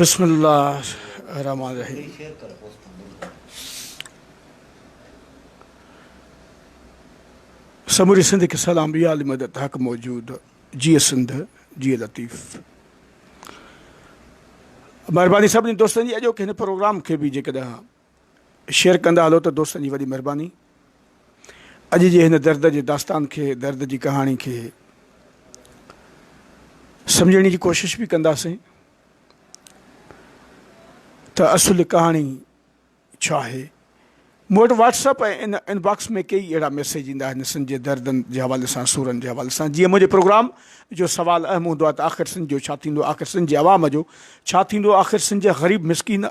بسم الله الرحمٰن الرحيم سموري سنڌ کي سلام بي عالي مدد حق موجود جي سنڌ جي لطيف مهرباني سڀني دوستن جي اڄوڪي هن پروگرام کي به جيڪڏهن شيئر ڪندا هلو ته دوستن جي وڏي مهرباني اڄ جي هن درد جي داستان کي درد جي ڪهاڻي کي سمجهڻي جي ڪوشش به ڪنداسين ته اصل ڪهاڻي ڇا آهي مون وٽ واٽس اپ ۽ ان ان باڪس ۾ ڪيئي اهڙا ميسيج ايندا آهن سن جي دردن جي حوالي سان سورن جي حوالي سان جيئن منهنجي پروگرام جو سوال اهم هوندو آهي ته آخر سن جو ڇا ٿيندو آخر سن جي عوام جو ڇا ٿيندو آخر سن جي غريب مسڪين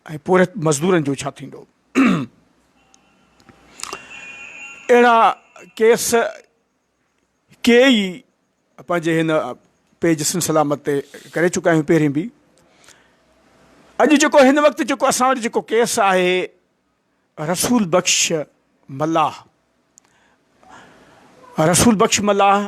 ۽ پورهيت مزدورن جو ڇا ٿيندو؟ اهڙا ڪيس ڪيئي پنهنجي هن پيج سنڌ سلامت تي ڪري چڪا آهيون پهرين به. اڄ جيڪو هن وقت جيڪو اسان وٽ جيڪو ڪيس آهي رسول بخش ملاح رسول بخش ملاح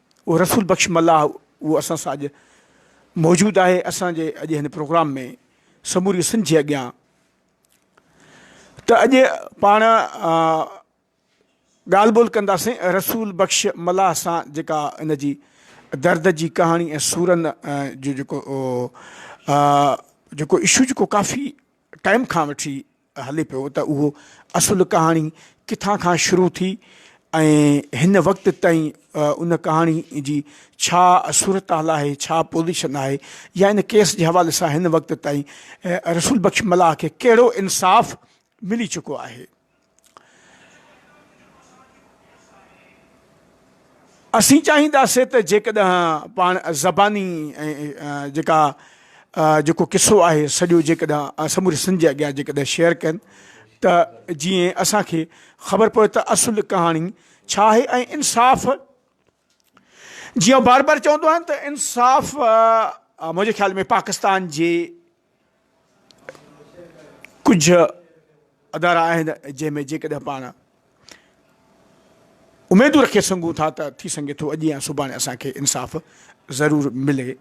اهو رسول بخش ملاح اهو اسان سان اڄ موجود آهي اسان جي اڄ هن پروگرام ۾ سموري سنڌ جي اڳيان ته اڄ پاڻ ڳالهه ٻولهه ڪنداسين رسول بخش ملاح سان جيڪا ان جي درد جي ڪهاڻي ۽ سورن جو جيڪو جيڪو اشو جيڪو ڪافي ٽائم کان وٺي هلي پيو ته اهو اصل ڪهاڻي ڪٿان کان شروع ٿي ۽ هن وقت تائين ان ڪهاڻي جي ڇا صورتحال آهي، ڇا پوزيشن آهي يا ان ڪيس جي حوالي سان هن وقت تائين رسول بخش ملاح کي ڪهڙو انصاف ملي چڪو آهي. اسين چاهينداسين ته جيڪڏهن پاڻ زباني ۽ جيڪا جيڪو قصو آهي سڄو جيڪڏهن سموري سنڌ جي اڳيان جيڪڏهن شيئر ڪن ته جيئن اسان کي خبر پوي ته اصل ڪهاڻي ڇا آهي ۽ انصاف جيئن بار بار چوندو آهيان ته انصاف منهنجي خيال ۾ پاڪستان جي ڪجهه ادارا آهن جنهن ۾ جيڪڏهن پاڻ اميدون رکي سگهون ٿا ته ٿي سگهي ٿو اڄ يا سڀاڻي اسان کي انصاف ضرور ملي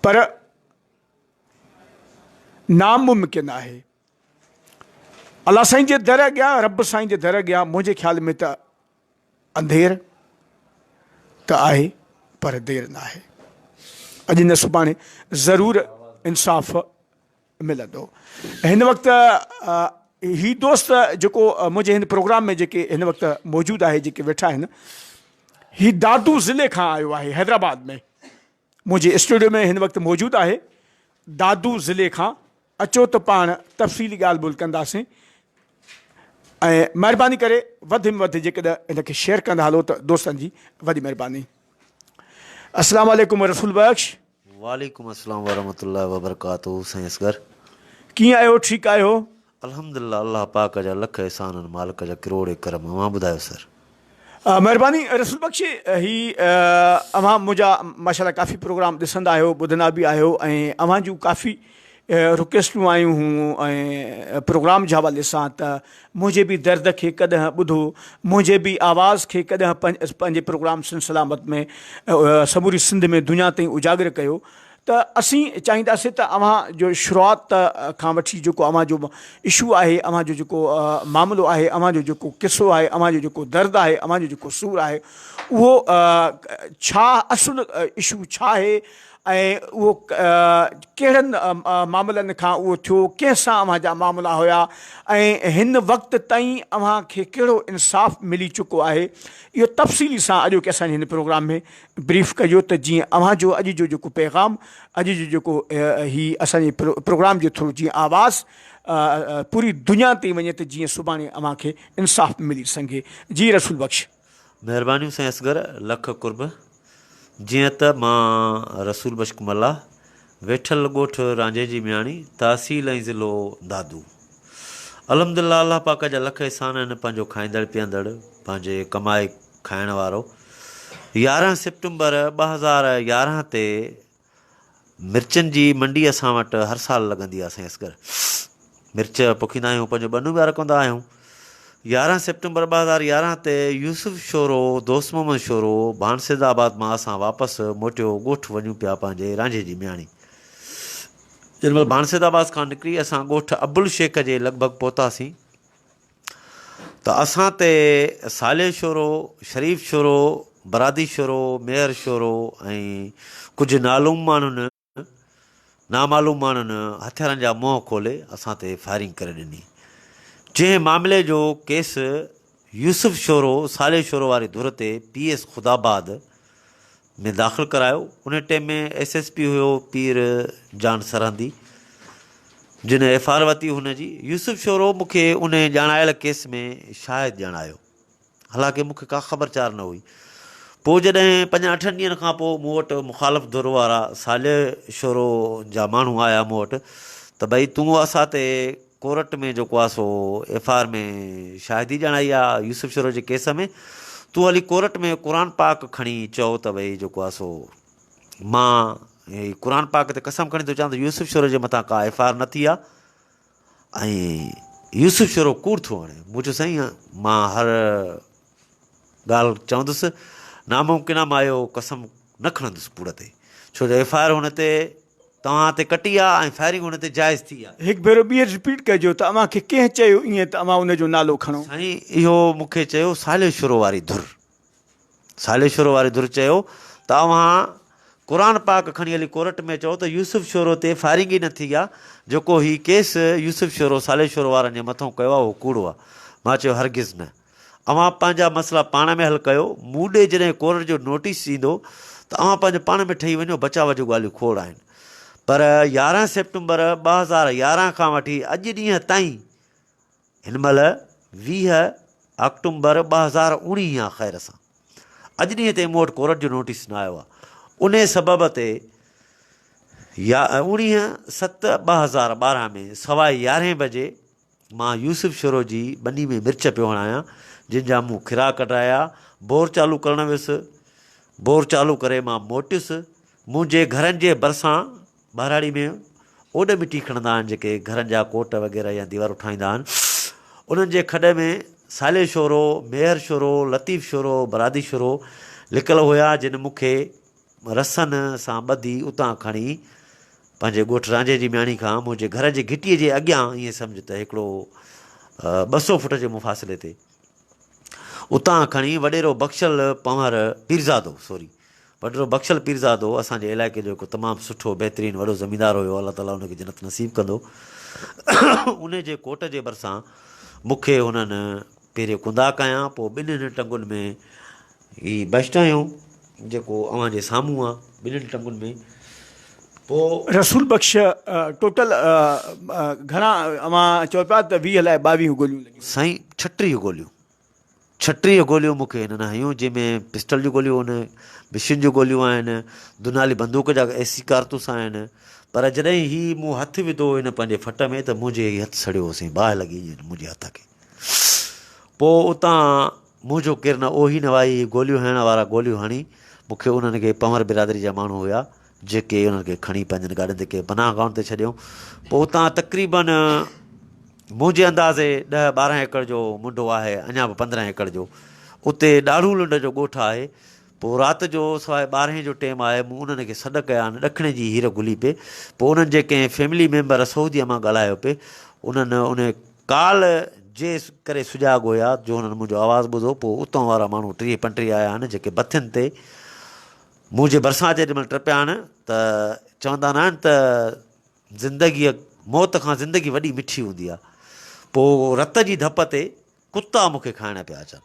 پر ناممڪن آهي الله سائين جي در اڳيان رب سائين جي در اڳيان منهنجي خيال ۾ ته انڌير ته آهي پر دير ناهي. اڄ نه سڀاڻي ضرور انصاف ملندو. هن وقت هي دوست جيڪو منهنجي هن پروگرام ۾ جيڪي هن وقت موجود آهي جيڪي ويٺا آهن هي دادو ضلعي کان آيو آهي حيدرآباد ۾ منهنجي اسٽوڊيو ۾ هن وقت موجود آهي دادو ضلعي کان اچو ته پاڻ تفصيلي ڳالهه ٻولهه ڪنداسين ۽ مهرباني ڪري وڌ ۾ وڌ جيڪڏهن هن کي شيئر ڪندا هلو ته دوستن جي وڏي مهرباني السلام عليڪم رسول بخش وعليڪم السلام ورحمة الله وبرڪاته سائين اصغر ڪيئن آهيو ٺيڪ آهيو الحمد لله الله پاڪ جا لک احسان ان مالڪ جا ڪروڙي ڪرم اوهان ٻڌايو سر. مهرباني رسول بخش هي اوهان منهنجا ماشاءالله ڪافي پروگرام ڏسندا آهيو ٻڌندا به آهيو ۽ اوهان جون ڪافي رڪويسٽون آيون هون ۽ پروگرام جي حوالي سان ته منهنجي به درد کي ڪڏهن ٻڌو منهنجي به آواز کي ڪڏهن پنهنجي پروگرام سن سلامت ۾ سموري سنڌ ۾ دنيا تائين اجاگر ڪيو ته اسين چاهينداسين ته اوهان جو شروعات کان وٺي جيڪو اوهان جو اشو آهي، اوهان جو جيڪو معاملو آهي، اوهان جو جيڪو قصو آهي، اوهان جو جيڪو درد آهي، اوهان جو جيڪو سور آهي، اهو ڇا اصل اشو ڇا آهي ۽ اهو ڪهڙن معاملن کان اهو ٿيو، ڪنهن سان اوهان جا معاملا هيا ۽ هن وقت تائين اوهان کي ڪهڙو انصاف ملي چڪو آهي، اهو تفصيلي سان اڄوڪي اسان جي هن پروگرام ۾ بريف ڪجو ته جيئن اوهان جو اڄ جو جيڪو پيغام اڄ جو جيڪو هي اسان جي پروگرام جي ٿرو جيئن آواز پوري دنيا تي وڃي ته جيئن سڀاڻي اوهان کي انصاف ملي سگهي جي رسول بخش. مهربانيون سائين اصغر لک قرب جيئن ته مان رسول بشڪ ملاح ويٺل ڳوٺ رانجهي جي مياڻي، تحصيل ۽ ضلعو دادو. الحمد الله الله پاڪ جا لک احسان آهن پنهنجو کائيندڙ پيئندڙ پنهنجي ڪمائي کائڻ وارو يارهن سيپٽمبر ٻه هزار يارهن تي مرچن جي منڊي اسان وٽ هر سال لڳندي آهي سائين اصغر مرچ پوکيندا آهيون پنهنجو ٻنيون ٻيا رکندا آهيون يارهن سيپٽمبر ٻه هزار يارهن تي يوسف شورو دوست محمد شورو ڀانسيد آباد مان اسان واپس موٽيو ڳوٺ وڃون پيا پنهنجي رانجهي جي مياڻي جن مهل ڀانسيد آباد کان نڪري اسان ڳوٺ ابل شيخ جي لڳ ڀڳ پهتاسين ته اسان تي صالح شورو شريف شورو برادي شورو ميهر شورو ۽ ڪجهه نالوم ماڻهن نامعلوم ماڻهن هٿيارن جا منهن کولي اسان تي فائرنگ ڪري ڏني، جنهن معاملي جو ڪيس يوسف شورو، صالح شورو واري ڌر تي پي ايس خداآباد ۾ داخل ڪرايو، ان ٽيم ۾ ايس ايس پي هيو پير جان سرهندي، جنهن ايف آر ورتي هن جي، يوسف شورو مون کي انهي ڄاڻايل ڪيس ۾ شاهد ڄاڻايو. حالانڪه مون کي ڪا خبر چار نه هئي. پوء جڏهن پنجن اٺن ڏينهن کان پوء مون وٽ مخالف ڌر وارا صالح شورو جا ماڻهو آيا مون وٽ ته ڀئي تون اسان تي ڪورٽ ۾ جيڪو آهي سو ايف آء آر ۾ شاهدي ڄاڻائي آ يوسف شورو جي ڪيس ۾ تون هلي ڪورٽ ۾ قرآن پاڪ کڻي چئو ته ڀئي جيڪو آهي سو مان قرآن پاڪ تي قسم کڻي ٿو چوان ته يوسف شورو جي مٿان ڪا ايف آء آر نه ٿي آ ۽ يوسف شورو ڪوڙ ٿو هڻي. مون چيو سائين مان هر ڳالهه چوندس، ناممڪن آ مان اهو قسم نه کڻندس ڪوڙ تي، ڇو جو ايف آء آر هن تي توهان تي ڪٽي آ ۽ فائرنگ هن تي جائز ٿي آ. هڪ ڀيرو ٻيهر رپيٽ ڪجو ته اوهان کي ڪنهن چيو ائين ته اوهان ان جو نالو کڻو. سائين اهو مون کي چيو صالح شورو واري ڌر. صالح شورو واري ڌر چيو ته اوهان قرآن پاڪ کڻي هلي ڪورٽ ۾ چئو ته يوسف شورو تي فائرنگ ئي نه ٿي آ، جيڪو هي ڪيس يوسف شورو صالح شورو وارن جي مٿئون ڪيو آ اهو ڪوڙو آ. مان چيو هرگز نه. اوهان پنهنجا مسئلا پاڻ ۾ حل ڪيو، مون ڏي جڏهن ڪورٽ جو نوٽيس ايندو ته اوهان پنهنجو پاڻ ۾ ٺهي وڃو بچاء جون ڳالهيون کوڙ آهن. پر يارهن سيپٽمبر ٻه هزار يارهن کان وٺي اڄ ڏينهن تائين هن مهل ويهه آڪٽومبر ٻه هزار اوڻيهه آ خير سان اڄ ڏينهن تائين مون وٽ ڪورٽ جو نوٽيس نه آيو آهي ان سبب تي يا اوڻيهه ست ٻه هزار ٻارهن ۾ سوائي يارهين بجي مان يوسف شورو جي ٻني ۾ مرچ پيو هڻايا جن جا مون کرا ڪڍرايا بور چالو ڪرڻ ويس بور چالو ڪري مان موٽيس منهنجي گهرن جي ڀرسان ٻهراڙي ۾ اوڏ مٽي کڻندا آهن جيڪي گهرن جا ڪوٽ وغيره يا ديوارون ٺاهيندا آهن انهن جي کڏ ۾ صالح شورو، ميهر شورو، لطيف شورو، برادي شورو لڪل هيا جن مون کي رسن سان ٻڌي اتان کڻي پنهنجي ڳوٺ رانجهي جي مياڻي کان منهنجي گهر جي گهٽي جي اڳيان ائين سمجهه ته هڪڙو ٻه سو فوٽ جي مفاصلي تي اتان کڻي وڏيرو بخشل پنهور پيرزادو سوري وڏيرو بخشل پيرزادو اسان جي علائقي جو هڪ تمام سٺو بهترين وڏو زميندار هيو الله تعالي ان کي جنت نصيب ڪندو انهي جي ڪوٽ جي ڀرسان مون کي هنن پهريون ڪندا ڪيا پوء ٻنهن ٽنگن ۾ هي بيشٽ آهيون جيڪو اوهان جي سامهون آ ٻنهن ٽنگن ۾ پوء. رسول بخش ٽوٽل گهڻا اوهان چئو پيا ته ويهه لاء ٻاويهه گوليون لڳيون. سائين ڇٽيهه گوليون ڇٽيهه گوليون مون کي هنن هنيون جنهن ۾ پسٽل جون گوليون آهن مشين جون گوليون آهن دونالي بندوق جا اي سي ڪارتوس آهن پر جڏهن هي مون هٿ وڌو هن پنهنجي ڦٽ ۾ ته منهنجي هي هٿ سڙيو هو سائين باهه لڳي ائين منهنجي هٿ کي پوء اتان مون جو ڪير نه اوهين هئا اهي گوليون هڻڻ وارا گوليون هڻي مون کي انهن کي پنهور برادري جا ماڻهو هيا جيڪي انهن کي کڻي پنهنجن گاڏين تي ڪنهن پناهه گاهن تي ڇڏيائون پوء اتان تقريبا منهنجي اندازي ڏهه ٻارهن ايڪڙ جو منڊو آهي اڃا به پندرهن ايڪڙ جو اتي ڏاڙهون لنڊ جو ڳوٺ آهي پوء رات جو سواء ٻارهين جو ٽيم آهي، مون انهن کي سڏ ڪيا آهن، ڏکڻي جي هير گهلي پئي، پوء انهن جي ڪنهن فيملي ميمبر سعوديء مان ڳالهايو پئي، انهن انهي ڪال جي ڪري سجاڳ هيا، جو انهن منهنجو آواز ٻڌو، پوء اتان وارا ماڻهو ٽيهه پنٽيهه آيا آهن، جيڪي بٿين تي مون جي ڀرسان جيڏي مهل ٽپيا آهن ته چوندا ناهن ته زندگيء موت کان زندگي وڏي مٺي هوندي آهي، پوء رت جي ڌپ تي ڪتا مون کي کائڻ پيا اچن.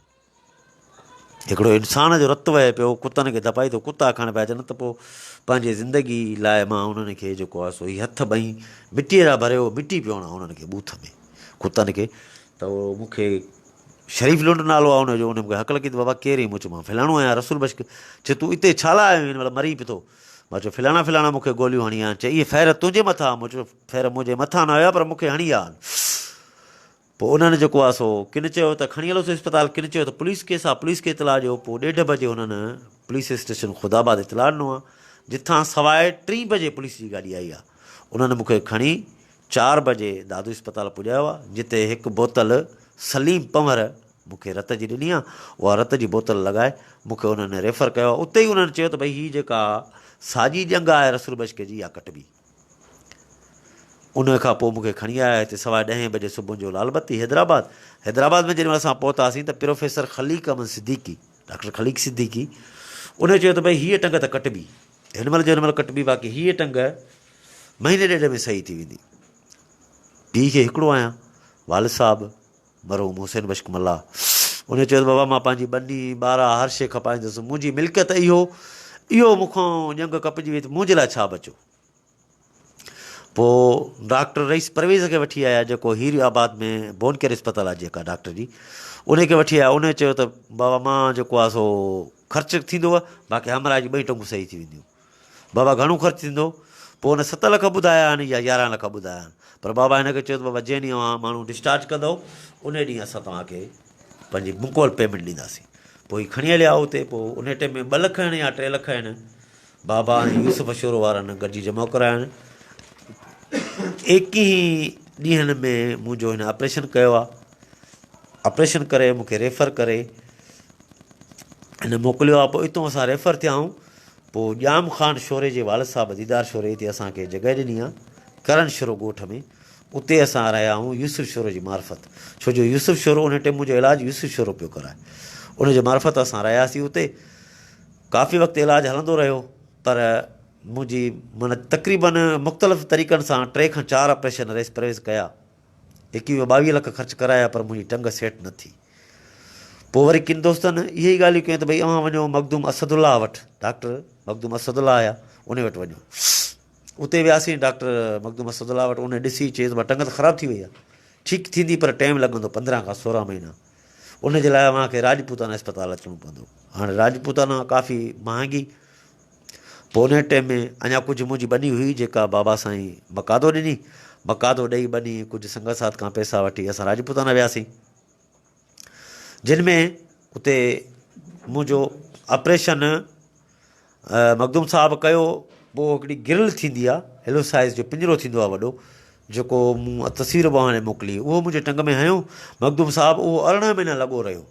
هڪڙو انسان جو رت وهي پيو ڪتن کي ڌپائي ٿو ڪتا کائڻ پيا اچن ته پوء پنهنجي زندگي لاء مان انهن کي جيڪو آهي سو هي هٿ ٻئي مٽيء را ڀري هو مٽي پيو هڻان انهن کي ٻوٿ ۾ ڪتن کي ته مون کي شريف لنڊ نالو آ ان جو ان مونکي حق لکي ته بابا ڪير اي مون چيومان فلاڻو آهيان رسول بشڪ چي تون اتي ڇا لاء آيو هين مطلب مري پٿو مان چيو فلاڻا فلاڻا مون کي گوليون هڻي آن چي اي فير تنهنجي مٿان مون چيو فير منهنجي مٿان نه هيا پر مون کي هڻي آن پوء انهن جيڪو آهي سو ڪن چيو ته کڻي هلوس اسپتال، ڪن چيو ته پوليس ڪيس آهي، پوليس کي اطلاع ڏيو، پوء ڏيڍ بجي انهن پوليس اسٽيشن خدا آباد اطلاع ڏنو آهي، جتان سواء ٽين بجي پوليس جي گاڏي آئي آهي، انهن مون کي کڻي چار بجي دادو اسپتال پڄايو آهي، جتي هڪ بوتل سليم پنهور مون کي رت جي ڏني آهي، اها رت جي بوتل لڳائي مون کي انهن ريفر ڪيو آهي، اتي ئي انهن چيو ته ڀئي هي جيڪا ساڄي ڄنگهه آهي رسول بشڪي جي اها ڪٽبي. ان کان پوء مون کي کڻي آيا هتي سوا ڏهين بجي صبح جو لال بتي حيدرآباد حيدرآباد ۾ جڏهن اسان پهتاسين ته پروفيسر خليق احمد صديقي ڊاڪٽر خليق صديقي ان چيو ته ڀئي هيء ٽنگ ته ڪٽبي هن مهل جو هن مهل ڪٽبي باقي هيء ٽنگ مهيني ڏيڍ ۾ صحيح ٿي ويندي پيء کي هڪڙو آهيان والد صاحب مرحوم حسين بخش ملاح انهيء چيو ته بابا مان پنهنجي ٻني، ٻارا هر شيء کپائيندس، منهنجي ملڪيت اهو اهو مون کان ڄنگهه ڪپجي وئي ته منهنجي لاء ڇا بچيو؟ پوء ڊاڪٽر رئيس پرويز کي وٺي آيا جيڪو هيري آباد ۾ بون ڪيئر اسپتال آهي جيڪا ڊاڪٽر جي انهيء کي وٺي آيا انهيء چيو ته بابا مان جيڪو آهي سو خرچ ٿيندو باقي همراهه جي ٻئي ٽنگون صحيح ٿي وينديون. بابا گهڻو خرچ ٿيندو؟ پوء هن ست لک ٻڌايا آهن يا يارهن لک ٻڌايا آهن؟ پر بابا هن کي چيو ته بابا جنهن ڏينهن اوهان ماڻهو ڊسچارج ڪندؤ انهي ڏينهن اسان توهان کي پنهنجي مڪمل پيمينٽ ڏينداسين. پوء هي کڻي هليا اتي پوء انهي ٽيم ۾ ٻه لک هن يا ٽي لک هن بابا ۽ يوسف شورو وارن گڏجي جمع ڪرايا آهن. ايڪيهين ڏينهن ۾ منهنجو هن آپريشن ڪيو آهي. آپريشن ڪري مون کي ريفر ڪري هن موڪليو آهي پوء اتو اسان ريفر ٿيا آهيون پوء ڄام خان شوري جي والد صاحب ديدار شوري اتي اسان کي جڳهه ڏني ها ڪرن شرو ڳوٺ ۾ اتي اسان رهيا هئون يوسف شورو جي معرفت ڇو جو يوسف شورو انهي ٽيم منهنجو علاج يوسف شورو پيو ڪرائي ان جي معرفت اسان رهياسين اتي ڪافي وقت علاج هلندو رهيو پر منهنجي من تقريبن مختلف طريقن سان ٽي کان چار آپريشن ريس پرويز ڪيا ايڪويهه ٻاويهه لک خرچ ڪرايا پر منهنجي ٽنگ سيٽ نه ٿي. پوء وري ڪن دوستن اهي ئي ڳالهيون ڪيون ته ڀئي اوهان وڃو مخدوم اسد الله وٽ، ڊاڪٽر مخدوم اسد الله آيا، انهي وٽ وڃو. اتي وياسين ڊاڪٽر مخدوم اسد الله وٽ، انهي ڏسي چيس مان ٽنگ ته خراب ٿي وئي آهي، ٺيڪ ٿيندي پر ٽائيم لڳندو پندرهن کان سورهن مهينا، ان جي لاء اوهان کي راجپوتانا اسپتال اچڻو پوندو. هاڻي راجپوتانا ڪافي مهانگي پونهيٽي ۾ اڃا ڪجهه منهنجي ٻني هئي جيڪا بابا سائين مقادو ڏني. مقادو ڏئي ٻني ڪجهه سنگت ساٿ کان پئسا وٺي اسان راجپوتانا وياسين. جن ۾ اتي منهنجو آپريشن مخدوم صاحب ڪيو. پوء هڪڙي گرل ٿيندي آ هلو سائز جو پڃرو ٿيندو آ وڏو جيڪو مون تصوير به هاڻي موڪلي اهو منهنجي ٽنگ ۾ هنيو مخدوم صاحب اهو ارڙهن مهينا لڳو رهيو.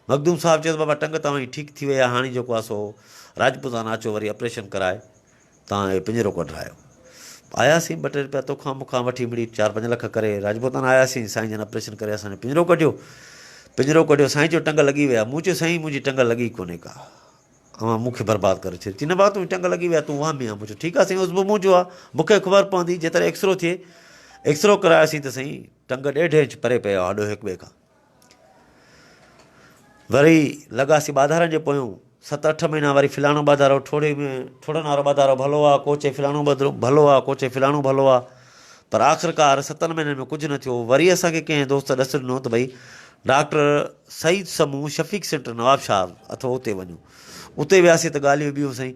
مخدوم صاحب چيو ته بابا ٽنگ توهان جي ٺيڪ ٿي وئي آهي، هاڻي جيڪو آهي سو راجپوتانا اچو وري آپريشن ڪرائي توهان اهي پڃرو ڪڍرايو. آياسين ٻه ٽي رپيا توکان مونکان وٺي مڙئي چار پنج لک ڪري راجپوتانا آياسين، سائين جن آپريشن ڪري اسان جو پڃرو ڪڍيو. پڃرو ڪڍيو، سائين چيو ٽنگ لڳي وئي آهي، مون چيو سائين منهنجي ٽنگ لڳي ڪونهي ڪا، اوهان مونکي برباد ڪري ڇڏيو، چي نه بابا تنهنجي ٽنگ لڳي وئي آهي تون وهمي آهين، مون چيو ٺيڪ آهي سائين عضو منهنجو آهي مونکي خبر پوندي جيتري ايڪسرو ٿئي، ايڪسرو ڪراياسين ته سائين ٽنگ ڏيڍ انچ پري پئي آهي هڏو هڪ ٻئي کان. وري لڳاسي ٻاڌارن جي پويون، ست اٺ مهينا وري فلاڻو ٻاڌارو، ٺوڙهي ۾ ٺوڙهن وارو ٻاڌارو ڀلو آ، ڪو چئي فلاڻو ٻڌرو ڀلو آ، ڪو چئي فلاڻو ڀلو آ، پر آخرڪار ستن مهينن ۾ ڪجهه نه ٿيو، وري اسان کي ڪنهن دوست ڏس ڏنو ته ڀئي ڊاڪٽر سعيد سمون شفيق سينٽر نوابشاهه اٿو اتي وڃو، اتي وياسي ته ڳالهيون ٻيون سائين،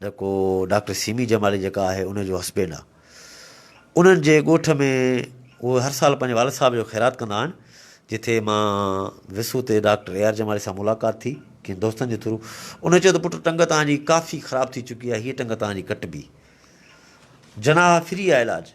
نه ڪو ڊاڪٽر سيمي جمالي جيڪا آهي ان جو هسبينڊ آ انهن جي ڳوٺ ۾ اهي هر سال پنهنجي والد صاحب جو خيرات ڪندا آهن جتي مان وسو تي ڊاڪٽر اي آر جمالي سان ملاقات ٿي ڪن دوستن جي ٿرو انهن چيو ته پٽ ٽنگ تان جي ڪافي خراب ٿي چڪي آهي هي ٽنگ تان جي ڪٽبي جناح فري آ علاج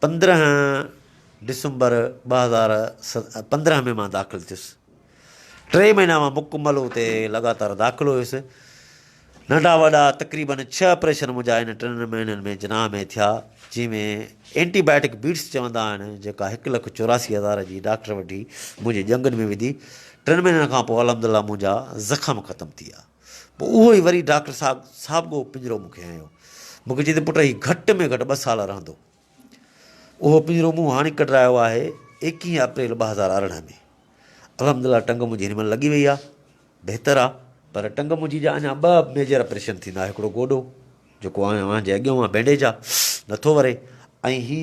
پندرهن ڊسمبر ٻه هزار پندرهن ۾ مان داخل ٿيس. ٽي مهينا مان مڪمل اتي لڳاتار داخل هيس. ننڍا وڏا تقريبن ڇهه آپريشن منهنجا ان ٽن مهينن ۾ جناح ۾ ٿيا، جنهن ۾ اينٽي بائيوٽڪ بيٽس چوندا آهن، جيڪا هڪ لک چوراسي هزار جي ڊاڪٽر وٺي منهنجي ڄنگهن ۾ وڌي. ٽن مهينن کان پوء الحمدالله منهنجا زخم ختم ٿي ويا. پوء اهو ئي وري ڊاڪٽر صاحب ساڀڳو پڃرو مون کي هنيو. مون کي چئي ته پٽ هي گهٽ ۾ گهٽ ٻه سال رهندو. اهو پڃرو مون هاڻي ڪڍرايو آهي ايڪيهين اپريل ٻه هزار ارڙهن ۾. الحمد لله ٽنگ منهنجي هن مهل لڳي وئي آهي، بهتر آهي. پر ٽنگ منهنجي جا اڃا ٻه ميجر اپريشن ٿيندا، هڪڙو گوڏو جيڪو اوهان جي اڳيون اها بينڊيج آهي، نٿو وري ۽ هي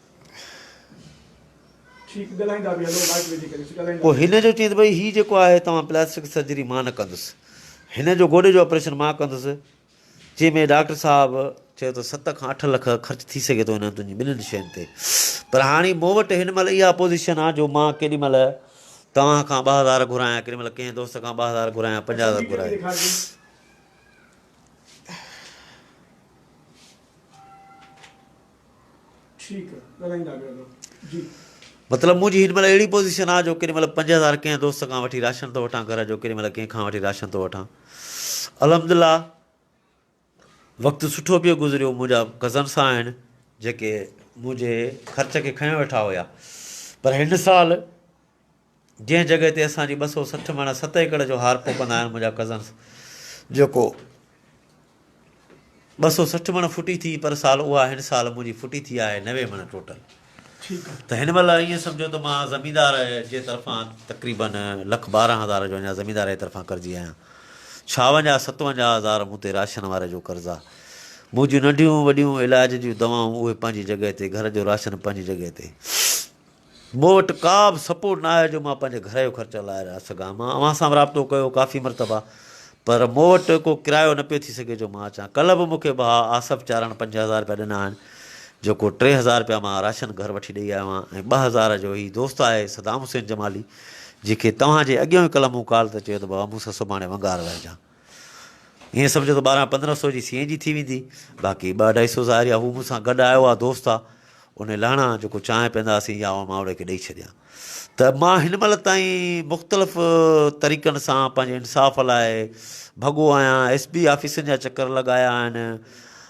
پوء هن جو چيس ڀئي هي جيڪو آهي توهان پلاسٽڪ سرجري مان نه ڪندس هن جو گوڏي جو آپريشن مان ڪندس چي ۾ ڊاڪٽر صاحب چيو ته ست کان اٺ لک خرچ ٿي سگهي ٿو هنن تنهنجي ٻنهن شين تي پر هاڻي مون وٽ هن مهل اها پوزيشن آ جو مان ڪيڏي مهل توهان کان ٻه هزار گهرايان ڪيڏي مهل ڪنهن دوست کان ٻه هزار گهرايان پنجاهه هزار گهرايان ٺيڪ آ ڳالهائيندا پيا ڪرو جي. مطلب منهنجي هن مهل اهڙي پوزيشن آ جو ڪيڏي مهل پنج هزار ڪنهن دوست کان وٺي راشن ٿو وٺان گهر جو ڪيڏي مهل ڪنهن کان وٺي راشن ٿو وٺان الحمدلله وقت سٺو پيو گذريو منهنجا ڪزن سا آهن جيڪي منهنجي خرچ کي کنيو ويٺا هيا پر هن سال جنهن جڳهه تي اسان جي ٻه سؤ سٺ مڻ ست ايڪڙ جو هار ڦوڪندا آهن منهنجا ڪزنس جيڪو ٻه سؤ سٺ مڻ ڦٽي ٿي پر سال اها هن سال منهنجي ڦٽي ٿي آهي نوي مڻ ٽوٽل ته هن مهل ائين سمجهو ته مان زميندار جي طرفان تقريباً لک ٻارهن هزار جو اڃا زميندار جي طرفان قرضي آهيان ڇاونجاهه ستونجاهه هزار مون تي راشن واري جو قرض آهي منهنجيون ننڍيون وڏيون علاج جون دوائون اهي پنهنجي جڳهه تي گهر جو راشن پنهنجي جڳهه تي مون وٽ ڪا به سپورٽ نه آهي جو مان پنهنجي گهر جو خرچ هلائي رهيا سگهان. مان اوهان سان به رابطو ڪيو ڪافي مرتبا پر مون وٽ ڪو ڪرايو نه پيو ٿي سگهي جو مان اچان. ڪلهه به مون کي ڀاء آصف چارڻ پنج هزار رپيا ڏنا آهن جيڪو ٽي هزار رپيا مان راشن گهر وٺي ڏئي آيو آهيان ۽ ٻه هزار جو هي دوست آهي صدام حسين جمالي جنهن کي توهان جي اڳيون ئي ڪلهه مون ڪال تي چيو ته بابا مون سان سڀاڻي ونگار ويهجان. ائين سمجهو ته ٻارهن پندرهن سو جي سي اين جي ٿي ويندي باقي ٻه اڍائي سو ظاهر يا هو مون سان گڏ آيو آ دوست آ ان لهڻا جيڪو چانهه پيئندا هئاسين يا مان اوڙي کي ڏئي ڇڏيان ته مان هن مهل تائين مختلف طريقن سان پنهنجي انصاف لاء ڀڳو آهيان ايس بي آفيسن جا چڪر لڳايا آهن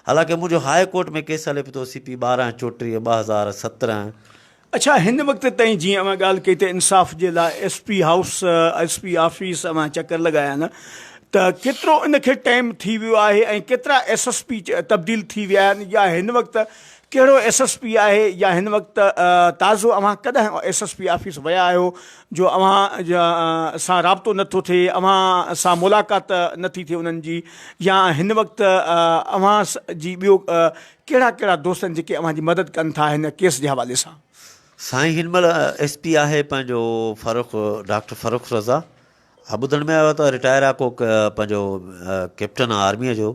حالانڪه منهنجو هاء ڪورٽ ۾ ڪيس هلي پيو ٿو سي پي ٻارهن چوٽيهه ٻه هزار سترهن اڇا هن وقت تائين جيئن اوهان ڳالهه ڪئي ته انصاف جي لاء S P house S P office اوهان چڪر لڳايا نه ته ڪيترو ان کي ٽائيم ٿي ويو آهي ۽ ڪيترا ايس ايس پي تبديل ٿي ويا آهن يا هن وقت ڪهڙو ايس ايس پي آهي يا هن وقت تازو اوهان ڪڏهن ايس ايس پي آفيس ويا آهيو جو اوهان سان رابطو نه ٿو ٿئي اوهان سان ملاقات نه ٿي ٿئي انهن جي يا هن وقت اوهان جي ٻيو ڪهڙا ڪهڙا دوست آهن جيڪي اوهان جي مدد ڪن ٿا هن ڪيس جي حوالي سان. سائين هن مهل ايس پي آهي پنهنجو فرخ ڊاڪٽر فرخ رضا ها ٻڌڻ ۾ آيو ته رٽائر آهي ڪو پنهنجو ڪيپٽن آهي آرميء جو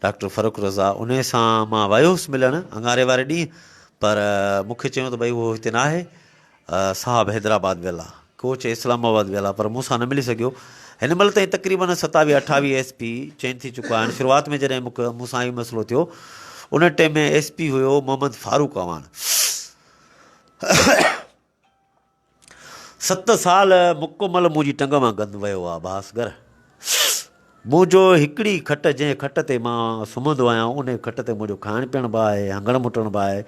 ڊاڪٽر فرخ رضا ان سان مان ويو هوس ملڻ اڱاري واري ڏينهن پر مونکي چيو ته ڀئي هو هتي ناهي صاحب حيدرآباد ويلا، ڪوچ اسلام آباد ويلا پر مون سان نه ملي سگهيو. هن مهل تائين تقريبن ستاويهه اٺاويهه ايس پي چينج ٿي چڪا آهن. شروعات ۾ جڏهن مون سان هي مسئلو ٿيو ان ٽيم ۾ ايس پي هيو محمد فاروق اعواڻ. ست سال مڪمل منهنجي ٽنگ مان گند ويو آهي. ڀاس گر. منهنجو هڪڙي کٽ جنهن کٽ تي مان سمهندو آهيان انهي کٽ تي منهنجو کائڻ پيئڻ به آهي هنگڻ مٽڻ به آهي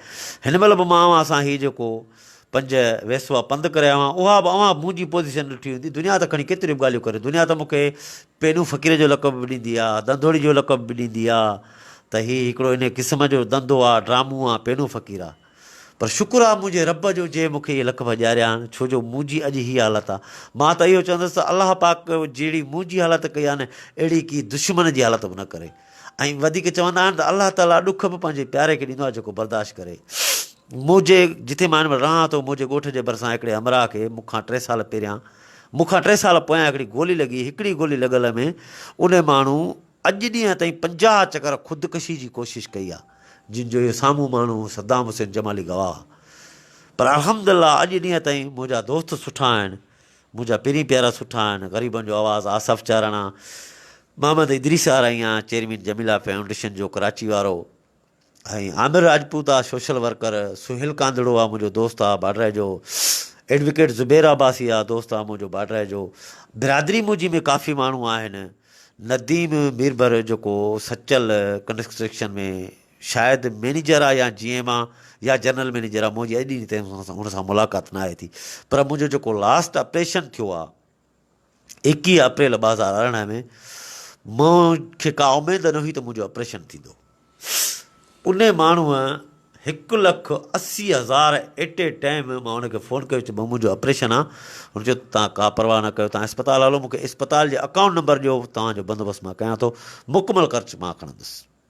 هن مهل به مان اوهان سان هي جيڪو پنج ويسوا پنڌ ڪري آيو آهيان اها به اوهان منهنجي پوزيشن ڏٺي هوندي دنيا ته کڻي ڪيتريون به ڳالهيون ڪري دنيا ته مون کي پينو فقير جو لقب به ڏيندي آ ڌنڌوڙي جو لقب به ڏيندي آ ته هي هڪڙو انهي قسم جو ڌنڌو آ ڊرامون آ پينو فقير آ پر شڪر آ منهنجي رب جو جنهن مون کي اهي لقب ڏياريا آهن، ڇو جو منهنجي اڄ هيء حالت آ. مان ته اهو چوندس ته الله پاڪ جهڙي منهنجي حالت ڪئي آهن، اهڙي ڪي دشمن جي حالت به نه ڪري. ۽ وڌيڪ چوندا آهن ته الله تعاليٰ ڏک به پنهنجي پياري کي ڏيندو آهي جيڪو برداشت ڪري. موجي، جتي مان هن مهل رهان ٿو، موجي ڳوٺ جي ڀرسان هڪڙي همراهه کي مون کان ٽي سال پهريان، مون کان ٽي سال پويان هڪڙي گولي لڳي، هڪڙي گولي لڳل ۾ ان ماڻهو، اڄ ڏينهن تائين پنجاهه چڪر خودڪشي جي ڪوشش ڪئي آهي جن جو اهو سامهون ماڻهو صدام حسين جمالي گواهه آهي پر الحمد الله اڄ ڏينهن تائين منهنجا دوست سٺا آهن منهنجا پيرين پيارا سٺا آهن غريبن جو آواز آصف چاراڻا محمد ادريس آرائيان چيئرمين جميلا فائونڊيشن جو ڪراچي وارو ۽ عامر راجپوت آ سوشل ورڪر، سهيل ڪانڌڙو آ منهنجو دوست آ باڊرائي جو، ايڊوڪيٽ زبير عباسي آ دوست آ منهنجو باڊرائي جو، برادري منهنجي ۾ ڪافي ماڻهو آهن، نديم ميربر جيڪو سچل ڪنسٽرڪشن ۾ شايد مئنيجر آ يا جي ايم آ يا جنرل مئنيجر آ منهنجي اڄ ڏينهن تائين هن سان ملاقات ناهي ٿي پر منهنجو جيڪو لاسٽ آپريشن ٿيو آ ايڪيهه اپريل ٻه هزار ارڙهن ۾ مون کي ڪا اميد نه هئي ته منهنجو آپريشن ٿيندو. ان ماڻهوء هڪ لک اسي هزار ايٽ اي ٽائيم مان هن کي فون ڪيو چيو ڀئو منهنجو آپريشن آ. هن چيو ته توهان ڪا پرواهه نه ڪيو توهان اسپتال هلو مون کي اسپتال جي اڪائونٽ نمبر ڏيو توهان جو بندوبست مان ڪيان ٿو مڪمل خرچ مان کڻندس.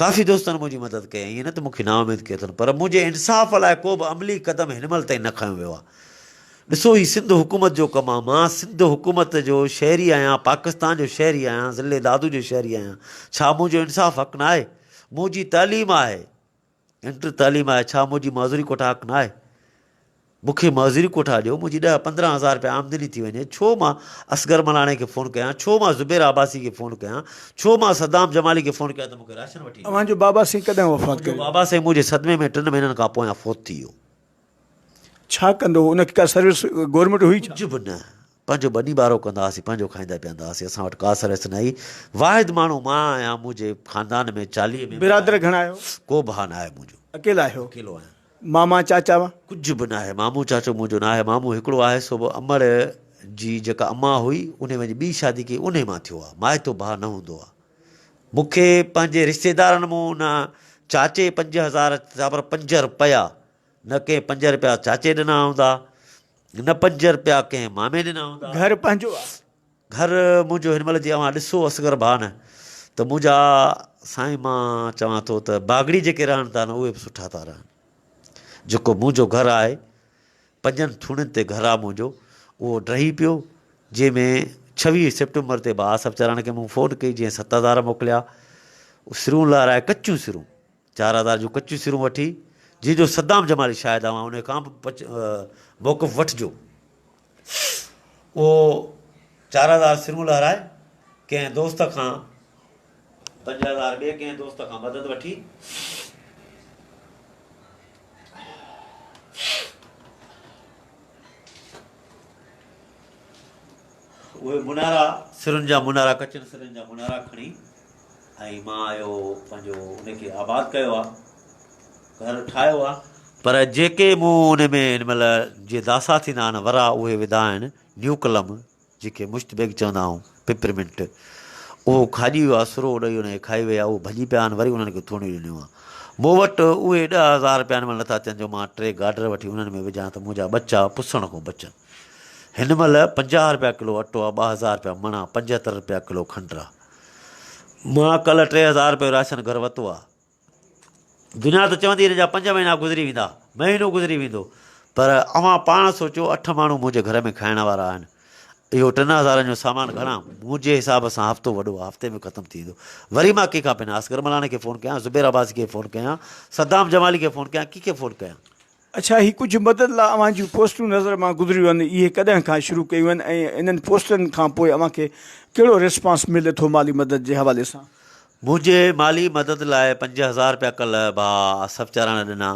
ڪافي دوستن منهنجي مدد ڪئي ۽ ائين نه ته مون کي نااميد ڪيو اٿن پر منهنجي انصاف لاء ڪو به عملي قدم هن مهل تائين نه کنيو ويو آهي. ڏسو هي سنڌ حڪومت جو ڪم آهي، مان سنڌ حڪومت جو شهري آهيان، پاڪستان جو شهري آهيان، ضلعي دادو جو شهري آهيان، ڇا منهنجو انصاف حق نه آهي؟ منهنجي تعليم آهي، انٽر تعليم آهي، ڇا منهنجي معذوري ڪوٽا حق نه آهي؟ مون کي معذوري ڪوٺا ڏيو، منهنجي ڏهه پندرهن هزار رپيا آمدني ٿي وڃي، ڇو مان اصغر ملاڻي کي فون ڪيان، ڇو مان زبير عباسي کي فون ڪيان، ڇو مان صدام جمالي کي فون ڪيان ته مون کي راشن وٺي ڏي. اوهان جو بابا سائين ڪڏهن وفات ڪيو؟ منهنجو بابا سائين منهنجي صدمي ۾ ٽن مهينن کان پويان فوت ٿي ويو. ڇا ڪندو هو؟ ان کي ڪا سروس گورنمينٽ هئي ڇا؟ ڪجهه به نه. پنهنجو ٻني ٻارو ڪندا هئاسين، پنهنجو کائيندا پيئندا هئاسين، اسان وٽ ڪا سرس نه هئي، واحد ماڻهو مان آهيان، منهنجي خاندان ۾ چاليهه ميمبر آهن، برادر گهڻا آهيو؟ ڪو ڀاء ناهي منهنجو. اڪيلا آهيو؟ اڪيلو آهيان. ماما چاچا؟ ڪجهه به ناهي، مامو چاچو منهنجو ناهي، مامو هڪڙو آهي سو به امڙ جي جيڪا امان هئي، انهي وڃي ٻي شادي ڪئي، انهي مان ٿيو آهي، مائيتو ڀاء نه هوندو آهي، مون کي پنهنجي رشتيدارن مون نه چاچي پنج هزار، سا پر پنج رپيا، نه ڪنهن پنج رپيا چاچي ڏنا هوندا، نه پنج رپيا ڪنهن مامي ڏنا هوندا. گهر پنهنجو آ. گهر منهنجو هن مهل جي اوهان ڏسو اصغر ڀان ته منهنجا سائين مان چوان ٿو ته باگڙي جيڪي رهن ٿا نه اهي به سٺا ٿا رهن جيڪو منهنجو گهر آهي پنجن ٿوڻين تي گهر آ منهنجو اهو ڊهي پيو جنهن ۾ ڇويهه سيپٽمبر تي بهاسب چراڻ کي مون فون ڪئي جنهن ست هزار موڪليا سرون لارائي ڪچيون سرون چار هزار جون ڪچيون سرون وٺي، جنهن جو صدام جمالي شاهد اوهان انهي کان به پچ موقف وٺجو. اهو چار هزار سرون لهرائي، ڪنهن دوست کان پنج هزار ٻئي ڪنهن دوست کان مدد وٺي، اهي منارا سرن جا منارا ڪچين سرن جا منارا کڻي، ۽ مان اهو پنهنجو ان کي آباد ڪيو آهي، گهر ٺاهيو آهي. پر جيڪي مون ان ۾ ان مهل جي داسا ٿيندا آهن ورا اهي وڌا آهن، نيوڪلم جنهن کي مشت بيگ چوندا آهيون، پپرمنٽ، اهو کاڄي ويو آهي، سرو اڏئي ان کي کائي ويا، اهي ڀڄي پيا آهن، وري انهن کي ٿوڻيون ڏنيون آهن. مون وٽ اهي ڏهه هزار رپيا ان مهل نٿا اچن جو مان ٽي گارڊر وٺي انهن ۾ وجهان ته منهنجا ٻچا پسڻ کان بچن. هن مهل پنجاهه رپيا ڪلو اٽو آهي، ٻه هزار رپيا مڻ آهي، پنجهتر رپيا ڪلو کنڊ آهي. مان ڪلهه ٽي هزار روپيه جو راشن گهر ورتو آهي. دنيا ته چوندي هن جا پنج مهينا گذري ويندا، مهينو گذري ويندو، پر اوهان پاڻ سوچو اٺ ماڻهو منهنجي گهر ۾ کائڻ وارا آهن. اهو ٽن هزارن جو سامان گهڻا؟ منهنجي حساب سان هفتو وڏو آهي، هفتي ۾ ختم ٿي ويندو. وري مان ڪنهن کان پنهان؟ اصغر ملاڻي کي فون ڪيان، زبير عباسي کي فون ڪيان، صدام جمالي کي فون ڪيان، ڪنهن کي فون ڪيان؟ اڇا هي ڪجهه مدد لا اوهان جون پوسٽون نظر مان گذريون آهن اهي ڪڏهن کان شروع ڪيون آهن ۽ انهن پوسٽن کان پوء اوهان کي ڪهڙو ريسپانس ملي ٿو مالي مدد جي حوالي سان. منهنجي مالي مدد لاء پنج هزار رپيا ڪلهه ڀاء آصف چاراڻ ڏنا.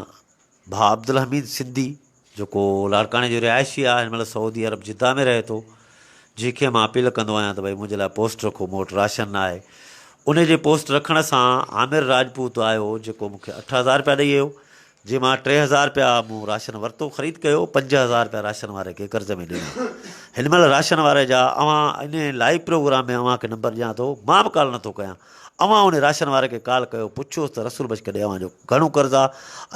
ڀاء عبدالحميد سنڌي جيڪو لاڙڪاڻي جو رهائشي آ هن مهل سعودي عرب جده ۾ رهي ٿو جنهن کي مان اپيل ڪندو آهيان ته ڀئي منهنجي لاء پوسٽ رکو مون وٽ راشن نه آهي انهي جي پوسٽ رکڻ سان عامر راجپوت آيو جيڪو مون کي اٺ هزار رپيا ڏئي ويو جنهن مان ٽي هزار رپيا مون راشن ورتو، خريد ڪيو، پنج هزار رپيا راشن واري کي قرض ۾ ڏنا. هن مهل راشن واري جا اوهان انهي لائيو پروگرام ۾ اوهان کي نمبر ڏيان ٿو، مان به ڪال نٿو ڪيان. اوهان انهي راشن واري کي ڪال ڪيو، پڇيوس ته رسول بخش ڪڏهن اوهان جو گهڻو قرض آ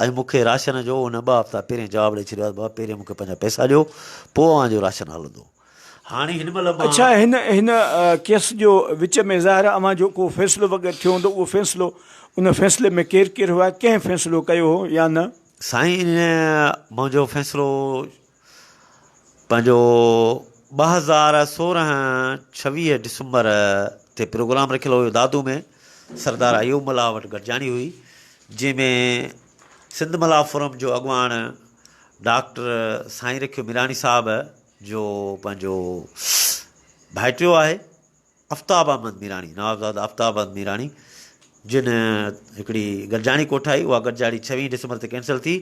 ۽ مون کي راشن جو هن ٻه هفتا پهرين جواب ڏئي ڇڏيو آ ته بابا پهرين مون کي پنهنجا پئسا ڏيو، پوء اوهان جو راشن هلندو. هاڻي هن مهل مان. اڇا هن هن ڪيس جو وچ ۾ ظاهر اوهان جو ڪو فيصلو وغيره ٿيو هوندو اهو فيصلو ان فيصلي ۾ ڪير ڪير هئا ڪنهن فيصلو ڪيو هو يا نه. سائين منهنجو فيصلو پنهنجو ٻه هزار سورهن ڇويهه ڊسمبر تي پروگرام رکيل هيو دادو ۾ سردار ايوب ملاح وٽ گڏجاڻي هئي جنهن ۾ سنڌ ملاح فورم جو اڳواڻ ڊاڪٽر سائين رکيو ميراڻي صاحب جو پنهنجو ڀائٽيو آهي افتاب احمد ميراڻي نوابزاده افتاب احمد ميراڻي جن هڪڙي گڏجاڻي ڪوٺائي اها گڏجاڻي ڇويهين ڊسمبر تي ڪينسل ٿي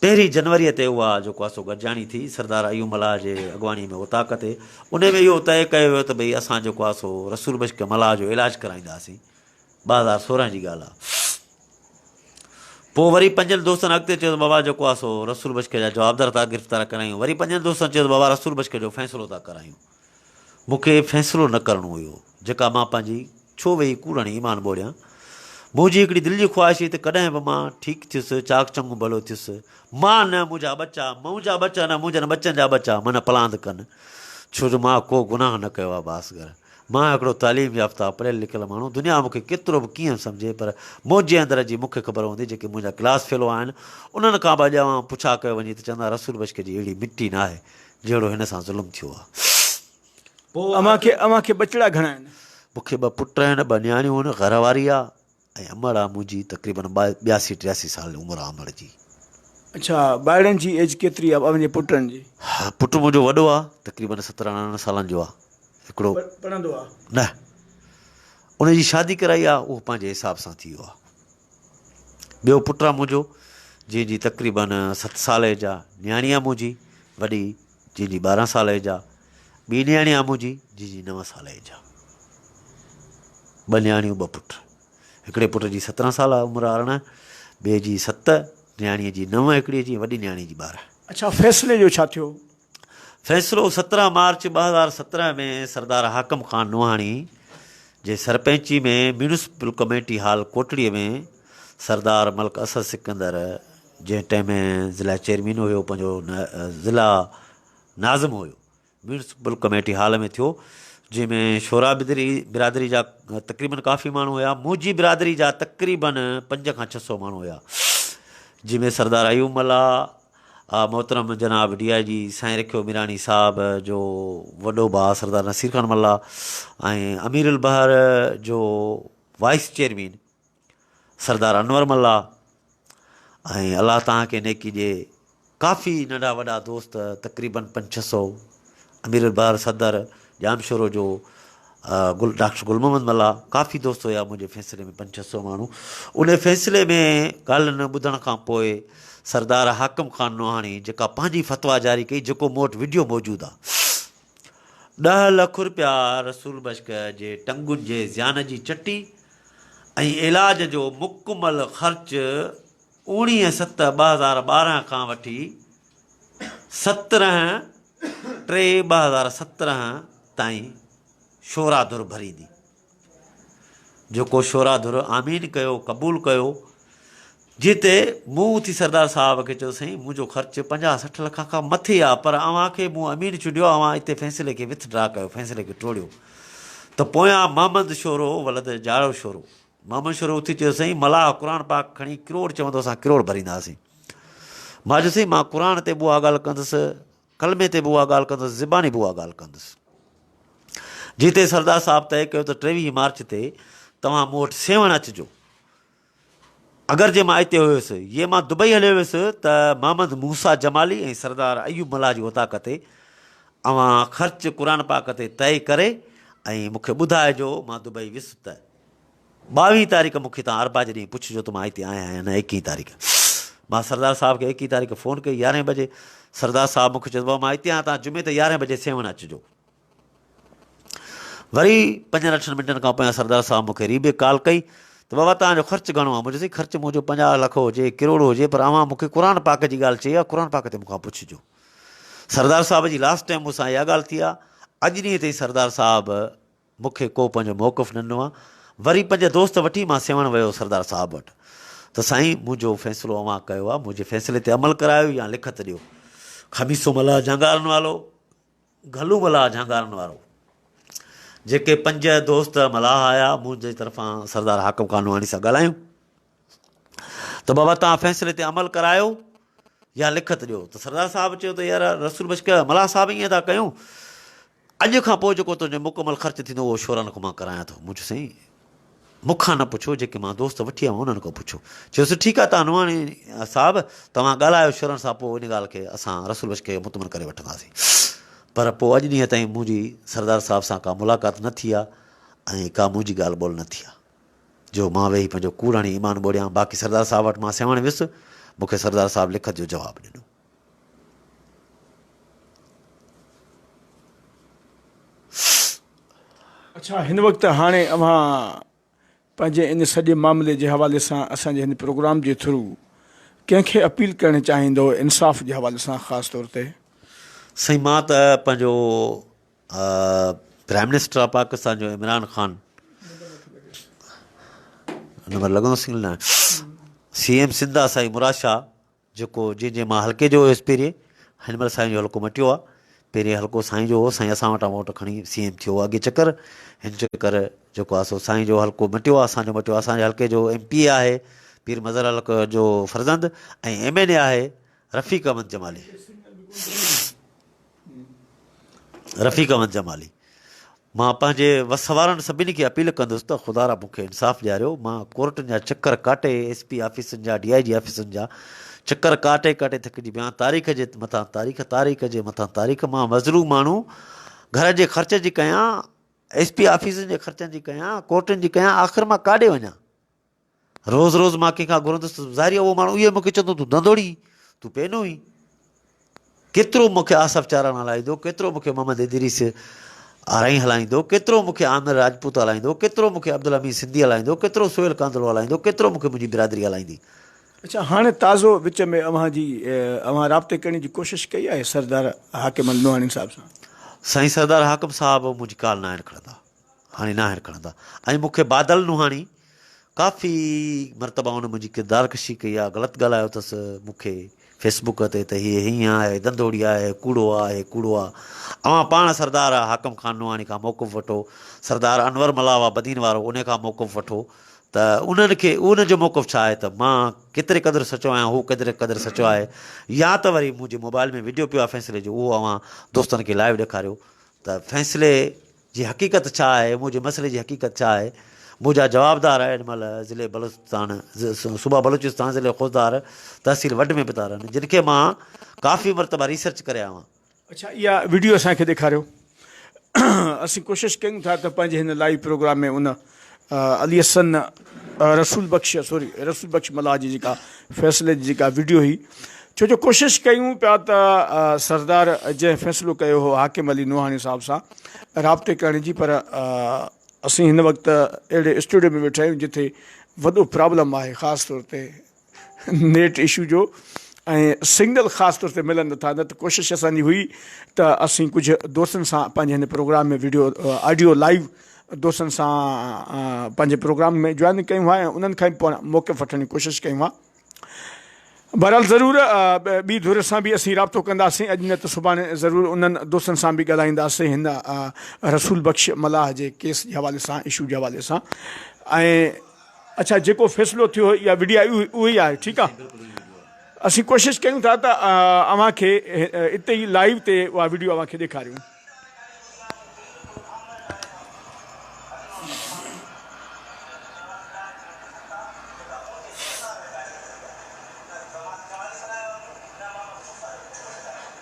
پهرين جنوري تي اها جيڪو آسو گڏجاڻي ٿي سردار ايوب ملاح جي اڳواڻي ۾ اوطاق تي ان ۾ اهو طئي ڪيو ويو ته ڀئي اسان جيڪو آسو رسول بشڪ ملاح جو علاج ڪرائينداسين ٻه هزار سورهن جي ڳالهه آ. پوء وري پنجن دوستن اڳتي چيو ته بابا جيڪو آ سو رسول بشڪي جا جوابدار ٿا گرفتار ڪرايون. وري پنجن دوستن چيو ته بابا رسول بشڪي جو فيصلو ٿا ڪرايون. مون کي فيصلو نه ڪرڻو هيو. جيڪا مان پنهنجي ڇو ويهي ڪوڙڻي ايمان ٻوڙيان. منهنجي هڪڙي دل جي خواهش هئي ته ڪڏهن به مان ٺيڪ ٿيس، چاڪ چڱو ڀلو ٿيس. مان نه منهنجا ٻچا، مون جا ٻچا نه منهنجن ٻچن جا ٻچا منهن پلاند ڪن. ڇو جو مان ڪو گناهه نه ڪيو آ باسگر. مان هڪڙو تعليم يافته پڙهيل لکيل ماڻهو، دنيا مون کي ڪيترو به ڪيئن به سمجهي پر منهنجي اندر جي مون کي خبر هوندي جيڪي منهنجا ڪلاس فيلو آهن انهن کان به اڄ اوهان پڇا ڪيو وڃي ته چوندا رسول بشڪ جي اهڙي مٽي ناهي جهڙو هن سان ظلم ٿيو آهي. اوهان کي ٻچڙا گهڻا آهن؟ مون کي ٻه پٽ آهن ٻه نياڻيون آهن گهر واري آهي. ۽ عمر آ منهنجي تقريبن ٻياسي ٽياسي سال عمر آ عمر جي. اڇا ڀائڙن جي ايج ڪيتري آ اوهنجي پٽن جي. پٽ منهنجو وڏو آ تقريبن ستر ارڙهن سالن جو آ هڪڙو. پڙهندو آ. نه ان جي شادي ڪرائي آ اهو پنهنجي حساب سان ٿي ويو آ ٻيو پٽ آ منهنجو جنهن جي تقريبن ست سال ايج آ نياڻي آ منهنجي وڏي. جنهن جي ٻارهن سال ايج آ، ٻي نياڻي آ منهنجي جنهن جي نو سال ايج آ. ٻه نياڻيون ٻه پٽ. هڪڙي پٽ جي سترهن سال آ عمر ارڙهن، ٻئي جي ست، نياڻيء جي نو هڪڙي جي وڏي نياڻي جي ٻارهن. اڇا فيصلي جو ڇا ٿيو؟ فيصلو سترهن مارچ ٻه هزار سترهن ۾ سردار حاڪم خان نوحاڻي جي سرپئنچي ۾ municipal committee hall Kotri ۾ Sardar Malik Asad Sikandar جنهن ٽئين ۾ ضلع چيئرمين هيو پنهنجو ضلع ناظم هيو ميونسپل ڪميٽي هال ۾ ٿيو جنهن ۾ شورا بدري برادري جا تقريبن ڪافي ماڻهو هيا موجي برادري جا تقريبن پنج کان ڇهه سو ماڻهو هيا جنهن ۾ سردار ايوب ملا محترم جناب ڊي آء جي سائين رکيو ميراڻي صاحب جو وڏو بھا سردار نصير خان ملا امير البحر جو وائس چیئرمین سردار انور ملاح ۽ الله تان کي نيڪي ڏي ڪافي ننڍا وڏا دوست تقريبن پنج ڇهه سو امير البحر صدر ڄام شورو جو گل ڊاڪٽر گل محمد ملا ڪافي دوست هيا منهنجي فيصلي ۾ پنج ڇهه سو ماڻهو ان فيصلي ۾ ڳالهين ٻڌڻ کان پوء سردار حاڪم خان نوحاڻي جيڪا پنهنجي فتوا جاري ڪئي جيڪو مون وٽ وڊيو موجود آ ڏهه لک روپيا رسول بشڪ جي ٽنگون جي زيان جي چٽي ۽ علاج جو مڪمل خرچ اوڻيهه ست ٻه هزار ٻارهن کان وٺي سترهن ٽي ٻه هزار سترهن تائين شورا ڌر ڀريندي. جيڪو شورا ڌر آمين ڪيو قبول ڪيو جنهن تي مون اٿي سردار صاحب کي چيو سائين منهنجو خرچ پنجاهه سٺ لک کان مٿي آ پر اوهان کي مون امين چونڊيو آ اوهان اتي فيصلي کي وٿ ڊرا ڪيو فيصلي کي ٽوڙيو ته پويان محمد شورو ولد جاڙو شورو محمد شورو اٿي چيو سائين ملاح قرآن پاڪ کڻي ڪروڙ چوندو اسان ڪروڙ ڀرينداسين مان چيو سائين مان قرآن تي به اها ڳالهه ڪندس ڪلمي تي به اها ڳالهه ڪندس زباني به اها ڳالهه ڪندس جتي سردار صاحب طئي ڪيو ته ٽيويهه مارچ تي توهان مون وٽ سيوهڻ اچجو اگر جي مان اتي هيس يي مان دبئي هليو ويس ته محمد موسيٰ جمالي ۽ سردار ايوب ملاح جي اوطاق تي اوهان خرچ قرآن پاڪ تي طئي ڪري ۽ مون کي ٻڌاء جو مان دبئي ويس ته ٻاويهين تاريخ مون کي تان اربع جي ڏينهن پڇ جو ته مان اتي آهيان يا نه ايڪيهين تاريخ مان سردار صاحب کي ايڪيهين تاريخ فون ڪئي يارهين بجي سردار صاحب مون کي چيو ته بابا مان اتي آهيان تان جمعي تي يارهين بجي سيوهڻ اچ جو وري پنجن اٺن منٽن کان پويان سردار صاحب مون کي ري بيڪ ڪال ڪئي ته بابا توهان جو خرچ گهڻو آهي مون چيس خرچ منهنجو پنجاهه لک هجي ڪروڙ هجي پر اوهان مون کي قرآن پاڪ جي ڳالهه چئي آهي قرآن پاڪ تي مون کان پڇجو سردار صاحب جي لاسٽ ٽائيم مون سان اها ڳالهه ٿي آهي اڄ ڏينهن تائين سردار صاحب مون کي ڪو پنهنجو موقف نه ڏنو آهي وري پنج دوست وٺي مان سيوهڻ ويو سردار صاحب وٽ ته سائين منهنجو فيصلو اوهان ڪيو آهي منهنجي فيصلي تي عمل ڪرايو يا لکت ڏيو خميسو ملاح جهنگارن والو گهلو ملاح جهانگارن وارو جيڪي پنج دوست ملاح آيا منهنجي طرفان سردار حاڪم قانواني سان ڳالهايون ته بابا توهان فيصلي تي عمل ڪرايو يا لکت ڏيو ته سردار صاحب چيو ته يار رسول بشڪ ملاح صاحب ائين ٿا ڪيون اڄ کان پوء جيڪو تنهنجو مڪمل خرچ ٿيندو اهو شورانڪ مان ڪرايان ٿو منهنجو سائين مون کان نه پڇو، جيڪي مان دوست وٺي آيو آهيان، انهن کان پڇو. چيس، ٺيڪ آهي ته انواڻي صاحب، توهان ڳالهايو شرن سان، پوء ان ڳالهه کي اسان رسول بخش کي مطمئن ڪري وٺنداسين. پر پوء اڄ ڏينهن تائين منهنجي سردار صاحب سان ڪا ملاقات نه ٿي آهي ۽ ڪا منهنجي ڳالهه ٻولهه نه ٿي آهي، جو مان ويهي پنهنجو ڪوڙ هڻي ايمان ٻوڙيان. باقي سردار صاحب وٽ مان سيوهڻ ويس، مون کي سردار صاحب لکت جو جواب ڏنو. اڇا هن وقت هاڻي اوهان پنهنجي ان سڄي معاملي جي حوالي سان اسان جي هن پروگرام جي ٿرو ڪنهن کي اپيل ڪرڻ چاهيندو انصاف جي حوالي سان خاص طور تي. سائين مان ته پنهنجو پرائم منسٽر آف پاڪستان جو عمران خان نمبر لڳندو سنگل نه سی ايم سنڌ آ سائين مراد شاهه جيڪو جيئن جيئن مان حلقي جو هيس پهرين هن مهل سائين جو حلقو مٽيو آ پهرين حلقو سائين جو هو سائين اسان وٽان ووٽ کڻي سي ايم ٿيو اڳي چڪر هن چڪر جيڪو آ سو سائين جو حلقو مٽيو آ اسان جو مٽيو اسان جي حلقي جو ايم پي اي آهي پير مظهر حلقي جو فرزند ۽ ايم اين اي آهي رفيق احمد جمالي رفيق احمد جمالي، مان پنهنجي وس وارن سڀني کي اپيل ڪندس ته خدا را مون کي انصاف ڏياريو، مان ڪورٽن جا چڪر ڪاٽي، ايس پي آفيسن جا، ڊي آء جي آفيسن جا چڪر ڪاٽي ڪاٽي ٿڪجي ويو آهيان، تاريخ جي مٿان تاريخ، تاريخ جي مٿان تاريخ، مان مظلوم ماڻهو گهر جي خرچ جي ڪيان، ايس پي آفيسن جي خرچن جي ڪيان، ڪورٽن جي ڪيان، آخر مان ڪاڏي وڃان؟ روز روز مان ڪنهن کان گهرندس ته ظاهري اهو ماڻهو اهو مون کي چوندو تون ڌنڌوڙي تون پينو هين ڪيترو مون کي آصف چاران هلائيندو ڪيترو مون کي محمد ادريس آرائين هلائيندو ڪيترو مون کي عامر راجپوت هلائيندو ڪيترو مون کي عبدالحميد سنڌي هلائيندو ڪيترو سهيل ڪانڌڙو هلائيندو ڪيترو مون کي منهنجي برادري هلائيندي اچا هاڻي تازو وچ ۾ اوهان جي اوهان رابطي ڪرڻ جي ڪوشش ڪئي آهي سردار حاڪم الميواڻي صاحب سان؟ سائين سردار حاڪم صاحب منهنجي ڪال ناهن کڻندا. هاڻي ناهر کڻندا ۽ مون کي بادل نوحاڻي ڪافي مرتبا هن منهنجي ڪردار ڪشي ڪئي آهي غلط ڳالهايو اٿس مون کي فيس بوڪ تي ته هي هيئن آهي دندوڙي آهي ڪوڙو آ هي ڪوڙو آ اوهان پاڻ سردار حاڪم خان نوحاڻي کان موقف وٺو سردار انور ملاوا بدين وارو ان کان موقف وٺو ته انهن کي ان جو موقف ڇا آهي ته مان ڪيتري قدر سچو آهيان هو ڪيتري قدر سچو آهي يا ته وري منهنجي موبائل ۾ ويڊيو پيو آهي فيصلي جو اهو اوهان دوستن کي لائيو ڏيکاريو ته فيصلي جي حقيقت ڇا آهي، مون جي مسئلي جي حقيقت ڇا آهي، مون جا جوابدار ايڏ مهل ضلعي بلوچستان، صوبه بلوچستان، ضلعي خوزدار، تحصيل وڍ ۾ به ٿا رهن، جن کي مان ڪافي مرتبه ريسرچ ڪري آيو آهيان. اڇا اها وڊيو اسان کي ڏيکاريو اسين ڪوشش ڪيون ٿا ته پنهنجي هن لائيو پروگرام ۾ ان علي حسن رسول بخش سوري رسول بخش ملاح جي جيڪا فيصلي جي جيڪا وڊيو هئي ڇو جو ڪوشش ڪيون پيا ته سردار جنهن فيصلو ڪيو هو حاڪم علي نوحاڻي صاحب سان رابطي ڪرڻ جي پر اسين هن وقت اهڙي اسٽوڊيو ۾ ويٺا آهيون جتي وڏو پرابلم آهي خاص طور تي نيٽ اشو جو ۽ سنگل خاص طور تي ملن نٿا نه ته ڪوشش اسان جي هئي ته اسين ڪجهه دوستن سان پنهنجي هن پروگرام ۾ ويڊيو آڊيو لائيو دوستن سان پنهنجي پروگرام ۾ جوائن ڪيون هئا ۽ انهن کان پاڻ موقف وٺڻ جي ڪوشش ڪيون هئا بهرحال ضرور ٻي ڌر سان به اسين رابطو ڪنداسين اڄ نه ته سڀاڻي ضرور انهن دوستن سان به ڳالهائينداسين هن رسول بخش ملاح جي ڪيس جي حوالي سان اشو جي حوالي سان ۽ اڇا جيڪو فيصلو ٿيو يا وڊيا اهو ئي آهي ٺيڪ آ اسين ڪوشش ڪريون ٿا ته اوهان کي اتي ئي لائيو تي اها وڊيو اوهان کي ڏيکاريون.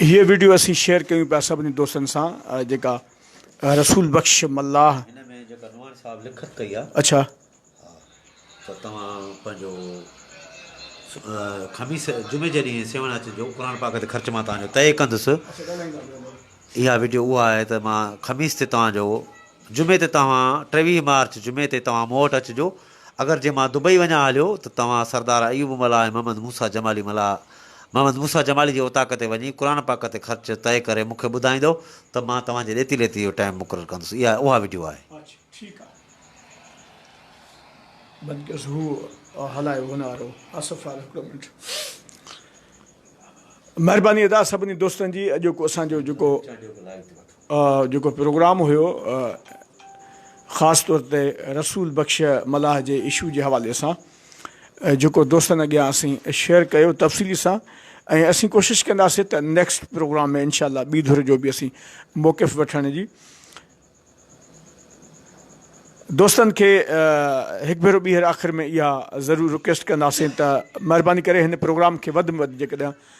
هيء وڊيو اسين شيئر ڪيون پيا سڀني دوستن سان جيڪا رسول بخش ملاح. هن ۾ جيڪا نوحان صاحب لکت ڪئي آ. اڇا. ها ته توهان پنهنجو خميس جمعي جي ڏينهن سيوهڻ اچجو قرآن پاڪ تي خرچ مان توهان جو طئي ڪندس. اها وڊيو اها آهي ته مان خميس تي توهان جو جمعي تي توهان ٽيويهه مارچ جمعي تي توهان مون وٽ اچجو اگر جي مان دبئي وڃان هليو ته توهان سردار ايوب ملاح ۽ محمد موسيٰ جمالي ملاح محمد موسيٰ جمالي جي اوطاق تي وڃي قرآن پاڪ تي خرچ طئي ڪري مون کي ٻڌائيندؤ ته مان توهان جي ڏيتي ليتي جو ٽائيم مقرر ڪندس اها اها وڊيو آهي. اڇ ٺيڪ آ بند ڪيوس هو هلايو هن وارو آصف وارو هڪڙو منٽ مهرباني ادا سڀني دوستن جي اڄوڪو اسان جو جيڪو جيڪو پروگرام هيو خاص طور تي رسول بخش ملاح جي اشو جي حوالي سان جيڪو دوستن اڳيان اسين شيئر ڪيو تفصيلي سان ۽ اسين ڪوشش ڪنداسين ته نيڪسٽ پروگرام ۾ انشاء الله ٻي ڌر جو به اسين موقف وٺڻ جي دوستن کي هڪ ڀيرو ٻيهر آخر ۾ اها ضرور رڪويسٽ ڪنداسين ته مهرباني ڪري هن پروگرام کي وڌ ۾ وڌ جيڪڏهن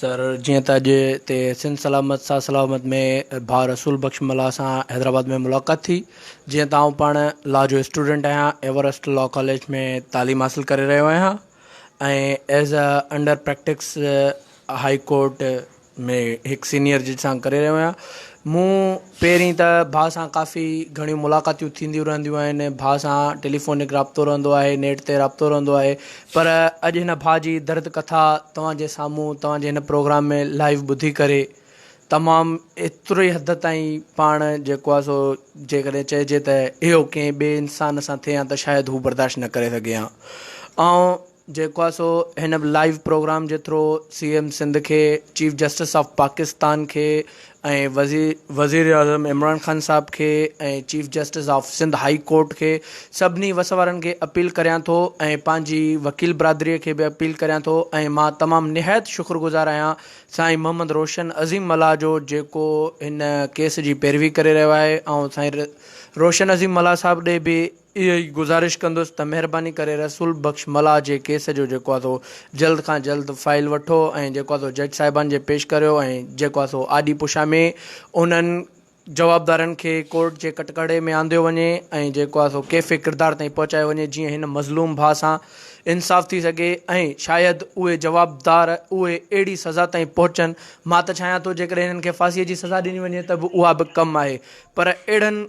سر جيئن ته اڄ اتي سنڌ سلامت ساز سلامت ۾ ڀاء رسول بخش ملاح سان حيدرآباد ۾ ملاقات ٿي جيئن ته آئون پاڻ لا جو اسٽوڊنٽ آهيان ايورسٽ لا ڪاليج ۾ تعليم حاصل ڪري رهيو آهيان ۽ as a under practice high court ۾ هڪ سينئر جج سان ڪري رهيو آهيان مون پهرين ته ڀاء سان ڪافي گهڻيون ملاقاتيون ٿينديون رهنديون آهن، ڀاء سان ٽيليفونڪ رابطو رهندو آهي، نيٽ تي رابطو رهندو آهي، پر اڄ هن ڀاء جي درد ڪٿا توهان جي سامهون توهان جي هن پروگرام ۾ لائيو ٻڌي ڪري تمام ايتري حد تائين پاڻ جيڪو آهي سو جيڪڏهن چئجي ته اهو ڪنهن ٻئي انسان سان ٿئي ها ته شايد هو برداشت نه ڪري سگهي ها آئون جيڪو آهي سو هن لائيو پروگرام جي ٿرو سي ايم سنڌ کي چيف جسٽس آف پاڪستان کي ۽ وزير وزيراعظم عمران خان صاحب کي ۽ chief justice of Sindh high court کي سڀني وس وارن کي اپيل ڪريان ٿو ۽ پنهنجي وڪيل برادري کي به اپيل ڪريان ٿو ۽ مان تمام نهايت شڪر گذار آهيان سائين محمد روشن عظيم ملاح جو جيڪو هن ڪيس جي پيروي ڪري رهيو آهي آئون سائين روشن عظيم ملاح صاحب ڏي به اهو ئي گذارش ڪندس ته مهرباني ڪري رسول بخش ملاح جي ڪيس جو جيڪو آ سو جلد کان جلد فائيل وٺو ۽ جيڪو آ سو جج صاحبان جي پيش ڪريو ۽ جيڪو آ سو آڏي پشا ۾ انهن جوابدارن کي ڪورٽ جي ڪٽڪڙي ۾ آنديو وڃي ۽ جيڪو آ سو ڪيفي ڪردار تائين پهچايو وڃي جيئن هن مظلوم ڀاء سان انصاف ٿي سگهي ۽ شايد اهي جوابدار اهي اهڙي سزا تائين پهچن مان ته چاهيان ٿو جيڪڏهن هنن کي ڦاسي جي سزا ڏني وڃي ته به اها به ڪم آهي پر اهڙن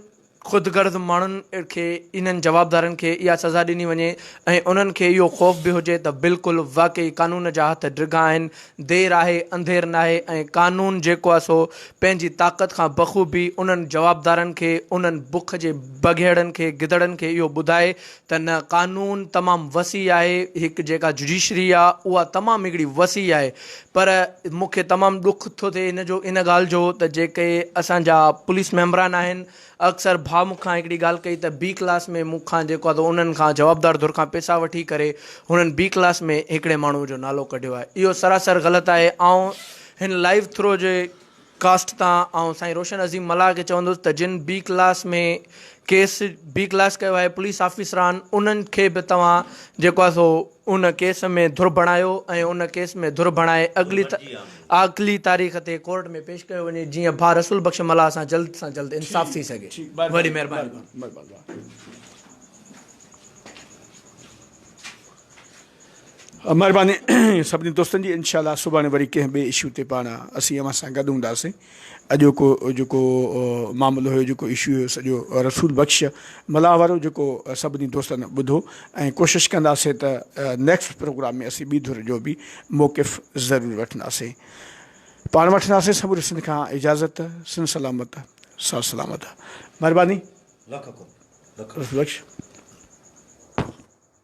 خود غرض ماڻهن کي انهن جوابدارن کي اها سزا ڏني وڃي ۽ انهن کي اهو خوف به هجي ته بلڪل واقعي قانون جا هٿ ڊگها آهن، دير آهي انڌير ناهي ۽ قانون جيڪو آهي سو پنهنجي طاقت کان بخوبي انهن جوابدارن کي انهن بک جي بگهيڙن کي گدڙن کي اهو ٻڌائي ته نه قانون تمام وسيع آهي هڪ جيڪا جڊيشري آ اها تمام هڪڙي وسيع آهي پر مون کي تمام ڏک ٿو ٿئي ان جو ان ڳالهه جو ته جيڪي اسانجا پوليس ميمبران آهن اڪثر ڀا مون کان هڪڙي ڳالهه ڪئي ته بي ڪلاس ۾ مون کان جيڪو آ ته انهن کان جوابدار ڌر کان پيسا وٺي ڪري هنن بي ڪلاس ۾ هڪڙي ماڻهو جو نالو ڪڍيو آهي اهو سراسر غلط آهي آئون هن لائيو ٿرو جي ڪاسٽ تان آئون سائين روشن عظيم ملاح کي چوندس ته جن بي ڪلاس ۾ ڪيس بي ڪلاس ڪيو آهي پوليس آفيسران انهن کي به توهان جيڪو آهي سو ان ڪيس ۾ ڌر بڻايو ۽ ان ڪيس ۾ ڌر بڻائي اڳلي اڳلي تاريخ تي ڪورٽ ۾ پيش ڪيو وڃي جيئن ڀا رسول بخش ملاح سان جلد سان جلد انصاف ٿي سگهي وڏي مهرباني. مھرباني سڀني دوستن جي انشاء الله سڀاڻي وري ڪنهن ٻئي اشو تي پاڻ اسين اوهان سان گڏ هونداسين اڄوڪو جيڪو معاملو هيو جيڪو اشو هيو سڄو رسول بخش ملاح وارو جيڪو سڀني دوستن ٻڌو ۽ ڪوشش ڪنداسين ته نيڪسٽ پروگرام ۾ اسين ٻي ڌر جو به موقف ضرور وٺنداسين پاڻ وٺنداسين سموري سنڌ کان اجازت سن سلامت سا سلامت مهرباني رسول بخش